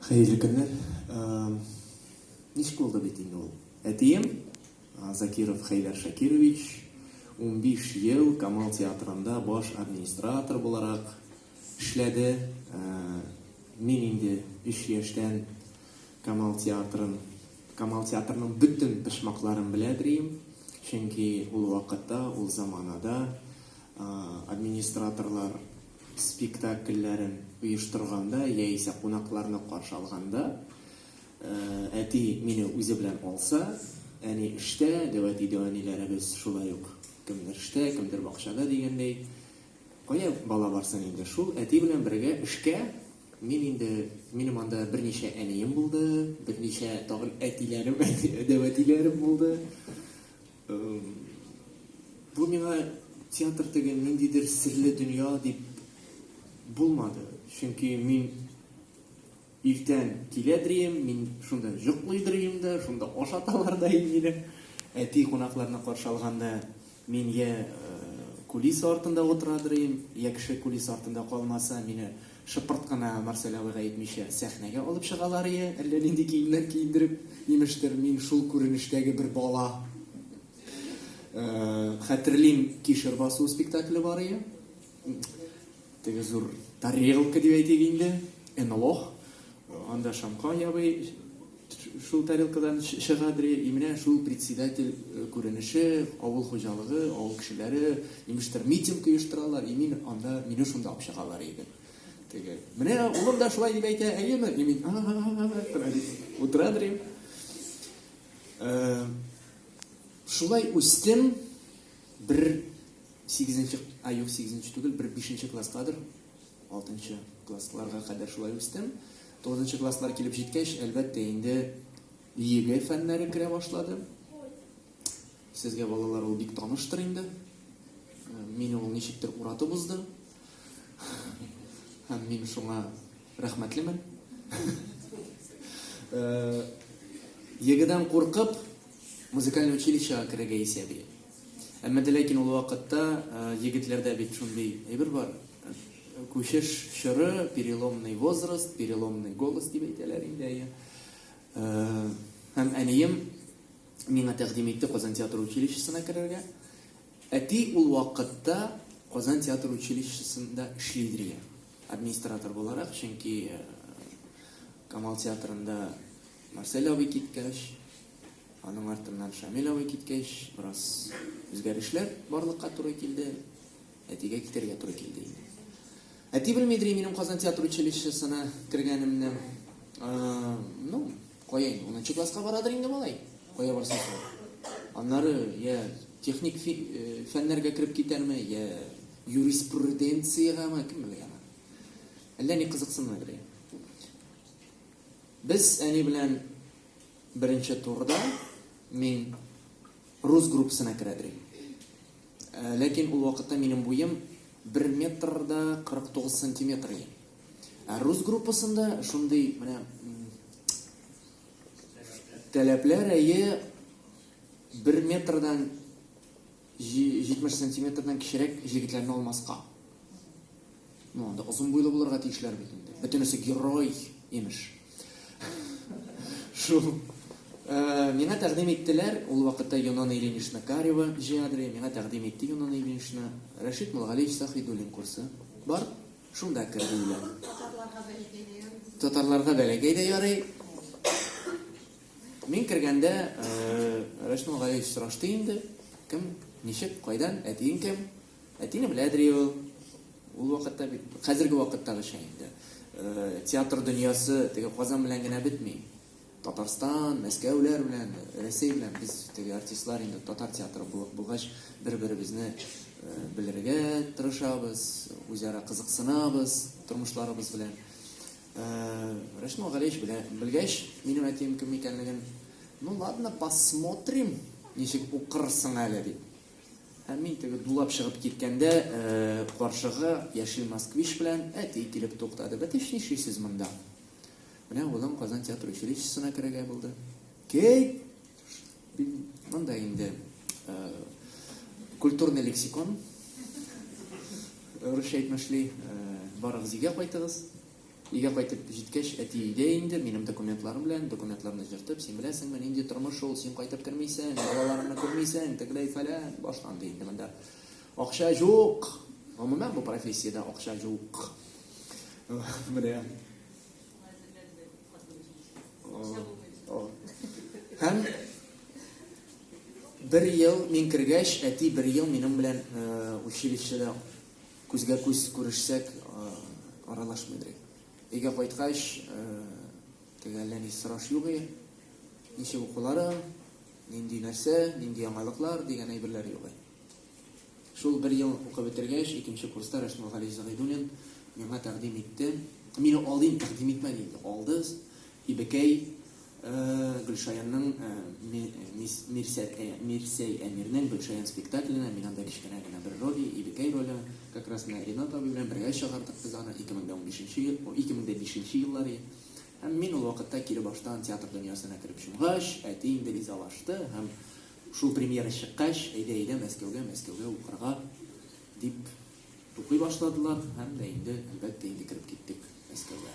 Хәерле көннәр. Ничек булды бит инде ул? Әтием Закиров Хәйләр Шакирович 15 ел Камал театрында баш администратор буларак эшләде. Мин инде 3 яшьтән Камал театрын, Камал театрының бөтен пешмакларын беләдерим. Чөнки ул вакытта, ул заманада администраторлар спектакльләрен оештырганда яисә кунакларны каршы алганда әти мине үзе белән алса, әни эштә, дәвәти-дәвәниләребез шулай ук кемдер эштә, кемдер бакчада дигәндәй, кая бала барсын инде, шул әти белән бергә эшкә мин инде, минем анда берничә әнием булды, берничә тагын әтиләрем, дәвәтиләрем булды. Бу миңа театр теге ниндидер серле дөнья дип булмады. Чөнки мин иртән килә дрием, мин шунда йоклый дрием дә, шунда ашаталар да инде. Әти кунакларны каршы алганда мин я кулиса артында утыра дрием, я кеше кулиса артында калмаса, мине Шыпырт кына Марсель абыйга әйтмичә, сәхнәгә алып чыгаларые, әллә нинди киемнәр киендереп, имештер, мин шул күренештәге бер бала. Хәтерлим, Кишер басу спектакле барые. Теге зур тарелка дип әйтик инде, энолох. Анда Шамка ябый шул тарелкадан чыга дри, и менә шул председатель күренеше, авыл хуҗалыгы, авыл кешеләре, имештер митинг оештыралар, и мин анда, мине шунда алып чыгалар иде. Теге, менә улым да шулай дип әйтә, әйеме? И мин, утыра дри. Шулай үстем, бер сигезенче, а юк, сигезенче түгел, бер бишенче класскадыр, Алтынчы классларга кадәр шулай үстем. Тугызынчы класслар килеп җиткәч, әлбәттә, инде ЕГЭ фәннәре керә башлады. Сезгә балалар ул бик таныштыр инде. Мине ул ничектер уратып узды. Һәм мин шуңа рәхмәтлемен. Егедан куркып, Музыкальный училищега керергә исә бир. Әмма дә ләкин ул вакытта егетләрдә бит шундый әйбер бар, күчеш чоры, переломный возраст, переломный голос дип әйтәләр инде, әйе. Һәм әнием миңа тәкъдим итте Казан театр училищесына керергә. Әти ул вакытта Казан театр училищесында эшли иде дигән, администратор буларак, чөнки Камал театрында, Марсель абый киткәч, аның артыннан Шамил абый киткәч, бераз үзгәрешләр барлыкка туры килде. Әтигә китәргә туры килде инде. Әти белмидер минем Казан театр училищесына кергәнемне. Ну, кая инде, 10 класска барадыр инде малай. Кая барсын? Аннары я техник э, фәннәргә кереп китәрме, я юриспруденциягәме, кем белә. Әллә ни кызыксынмадыр. Без әни белән беренче турда мин рус группасына керә дирем. Э, ләкин ул вакытта минем буем 1 метр да 49 сантиметр иде. Ә рус группасында шундый менә таләпләр әйе 1 метрдан 70 сантиметрдан кечерәк җегетләрне алмаска. Ну, анда озын буйлы булырга тиешләр бит инде. Бөтенесе герой, имеш. Шул. Э, миңа тәкъдим иттеләр, ул вакытта Юнона Ильинична Карева җиадры, миңа тәкъдим итте Юнона Ильинична. Рәшит Мулгалиев Сахидуллин курсы. Бар, шунда кер диләр. Татарларга бәләкәй дә ярый. Мин кергәндә Рәшмул Галиевич сорашты инде, кем, ничек, кайдан, әтиең кем? Әтине беләдер ул. Ул вакытта бит хәзерге вакыттагыча инде театр дөньясы теге Казан белән генә бетми. Татарстан, Мәскәүләр белән, Рәсәй белән без теге артистлар инде татар театры булып булгач, бер-беребезне белергә тырышабыз, үзара кызыксынабыз тормышларыбыз белән. Рәсмә Галиевич белә, белгәч, минем әтием кем икәнлеген, ну ладно, посмотрим, ничек укырсың әле дип. Һәм мин теге дулап чыгып киткәндә, каршыга яшел москвич белән әти килеп туктады. Бәтеш нишлисез монда? Менә улың Казан театр училищесына керергә булды. Кей! Монда инде культурный лексикон русча әйтмешли барыгыз өйгә кайтыгыз өйгә кайтып җиткәч әти өйдә инде минем документларым белән документларны җыртып син беләсеңме нинди тормыш ул син кайтып кермисең балаларыңны күрмисең тегеләй фәлән башланды инде монда акча юк гомумән бу профессиядә акча юк менә Һәм бер ел мин кергәч, әти бер ел минем белән э, училищеда күзгә күз күрешсәк, э, аралашмыйдыр. Өйгә кайткач, э, теге әллә ни сораш юк иде. Ничек укулары, нинди нәрсә, нинди яңалыклар дигән әйберләр юк иде. Шул бер ел укып бетергәч, икенче курста Рәшмәл Гали Зәгыйдуллин миңа тәкъдим итте. Мине алдыйм, тәкъдим итмә диде. Алды. Ибекәй Гөлшаянның Мирсәй Әмирнең Гөлшаян спектакленә мин анда кечкенә генә бер роль, Ибекәй роле, как раз менә Ринат абый белән бергә чыгардык без аны 2015 ел, 2005 еллары. Һәм мин ул вакытта кире баштан театр дөньясына кереп чумгач, әти инде ризалашты һәм Шул премьера чыккач, әйдә-әйдә Мәскәүгә, Мәскәүгә укырга, дип тукый башладылар һәм дә инде, әлбәттә, инде кереп киттек Мәскәүгә.